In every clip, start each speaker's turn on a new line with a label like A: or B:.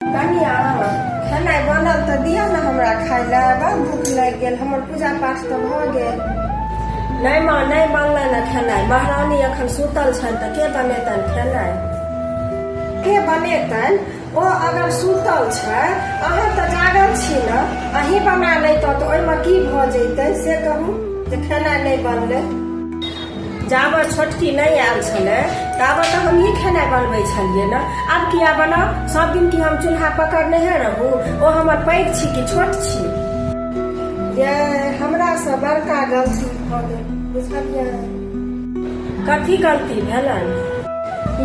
A: कनिया खेनाइ बनल तऽ दिअ ने हमरा खाय लए बड़ भूख लागि गेल हमर पूजा पाठ तऽ भऽ गेल नहि माँ नहि बनलै ने खेनाइ महारानी एखन सुतल छनि तऽ के बनेतनि खेनाइ के बनेतनि ओ अगर सुतल छै अहाँ तऽ जागल छी ने अहीं बना लैतहुँ तऽ ओहिमे की भऽ जैतै से कहू जे खेनाइ नहि बनलै जाबत छोटकी नहि आयल छलै ताबत तऽ हमही खेनाइ बनबै छलियै ने आब किया बनाउ सब दिन की हम चूल्हा पकड़ने है रहू ओ हमर पैघ छी कि छोट छी ये हमरा से बड़का गलती भऽ गेल बुझलियै कथी गलती भेलन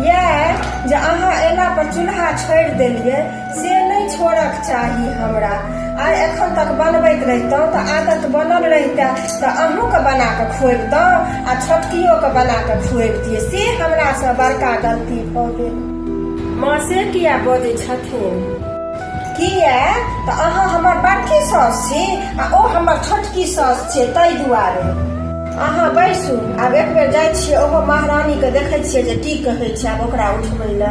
A: ये जे अहाँ एला पर चूल्हा छोड़ि देलियै से नहि छोड़क चाही हमरा आ एखन तक बनबैत रहितहुँ तऽ आदत बनल रहिते तऽ अहूँके बना कऽ खुएबतहुँ आ छोटकियोके बना कऽ खुएबतियै से हमरासँ बड़का गलती भऽ गेल माँ से किया बजै छथिन किया तऽ अहाँ हमर बड़की सास छी आ ओ हमर छोटकी सास छै ताहि दुआरे अहाँ बैसू आब एक बेर जाइ छियै ओहो महारानीके देखै छियै जे की कहै छै आब ओकरा उठबै लए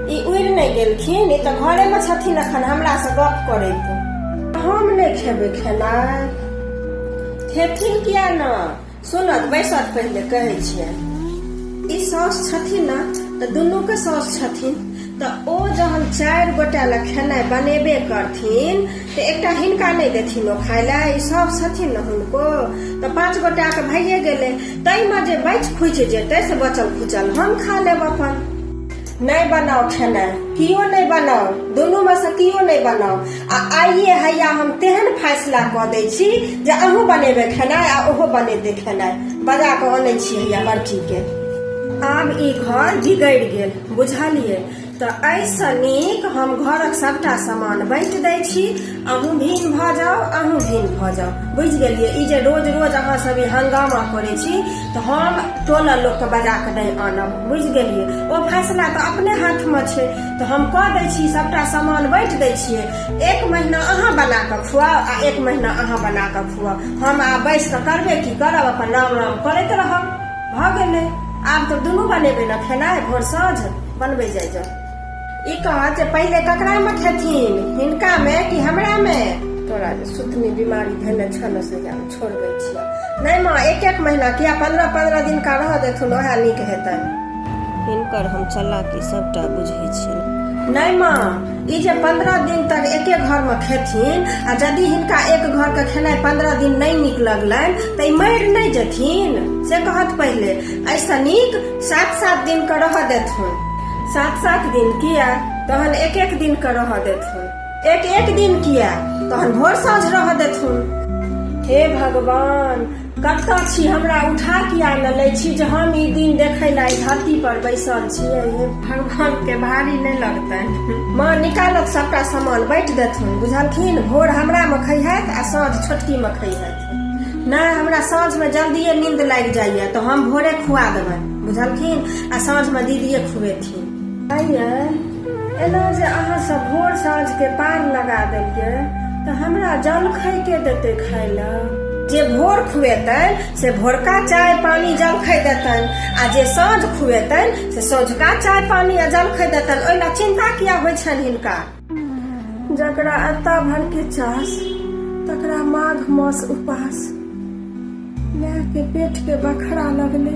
A: ई उड़ि नहि गेलखिन ई तऽ घरे मे छथिन अखन हमरा से गप करैत हम नहि खेबै खेनाइ खेथिन किया ने सुनत बैसत पहिले कहै छियै ई साउस छथिन ने तऽ दुनू के साउस छथिन तऽ ओ जहन चारि गोटा लए खेनाइ बनेबे करथिन तऽ एकटा हिनका नहि देथिन ओ खाय लए ई सब छथिन ने हुनको तऽ पाँच गोटा के भइए गेलै ताहिमे जे बचि खुचि जेतै से बचल खुचल हम खा लेब अपन नहि बनाउ खेनाइ कियो नहि बनाउ दुनूमे से कियो नहि बनाउ आ आइए हैया हम तेहन फैसला कऽ दै छी जे अहूँ बनेबै खेनाइ आ ओहो बनेतै खेनाइ बजा कऽ अनै छी हैया लड़कीके आब ई घर बिगड़ि गेल बुझलियै तऽ एहिसँ नीक हम घरक सभटा सामान बाँटि दै छी अहूँ भीन भऽ जाउ अहूँ भीन भऽ जाउ बुझि गेलियै ई जे रोज रोज अहाँ सब ई हंगामा करै छी तऽ हम टोला लोकके बजा कऽ नहि आनब बुझि गेलियै ओ फैसला तऽ अपने हाथमे छै तऽ हम कऽ दै छी सभटा सामान बाँटि दै छियै एक महीना अहाँ बना कऽ खुआउ आ एक महीना अहाँ बना कऽ खुआउ हम आब बैस कऽ करबे की करब अपन राम राम करैत रहब भऽ गेलै आब तऽ दुनू बनेबै ने खेनाइ भोर साँझ बनबै जाइ जाउ ई कह जे पहिले ककरा में खेथिन हिनका में कि हमरा में तोरा जे सुतनी बीमारी भेले छन से जान छोड़बे छिया नहीं माँ एक एक महीना किया पंद्रह पंद्रह दिन का रह देथुन ओहे नीक हेतन हिनकर हम चलाकी सबटा बुझे छी नहीं माँ ई जे पंद्रह दिन तक एके घर में खेथिन आ यदि हिनका एक घर के खेनाई पंद्रह दिन नहीं नीक लगलन तो ई मर नहीं जेथिन से कहत पहिले ऐसा नीक सात सात दिन के रह देथुन सात सात दिन किया तहन एक एक दिन के रह देथुन एक एक दिन किया तहन भोर साँझ रह देथुन हे भगवान कतऽ छी हमरा उठा किया न लै छी जे हम ई दिन देखै ला धरती पर बैसल छियै हे भगवान के भारी नहि लगतै माँ निकालत सबटा सामान बैठ देथुन बुझलखिन भोर हमरा मे खैहत आ साँझ छोटकी मे खैहत नहि हमरा साँझमे जल्दिए नींद लागि जाइए तऽ हम भोरे खुआ देबै बुझलखिन आ साँझमे दीदिए खुएथिन आइए एना जे अहाँ सब भोर साँझके पार लगा देलिए तऽ हमरा जलखै के देतै खाय लए जे भोर खुएतन से भोरका चाय पानी जलखै देतन आ जे साँझ खुएतन से साँझका चाय पानी आ जलखै देतन ओहि लए चिन्ता किया होइ छनि हिनका जकरा अता भर के चास तकरा माघ मास उपास माय के पेट के बखरा लगले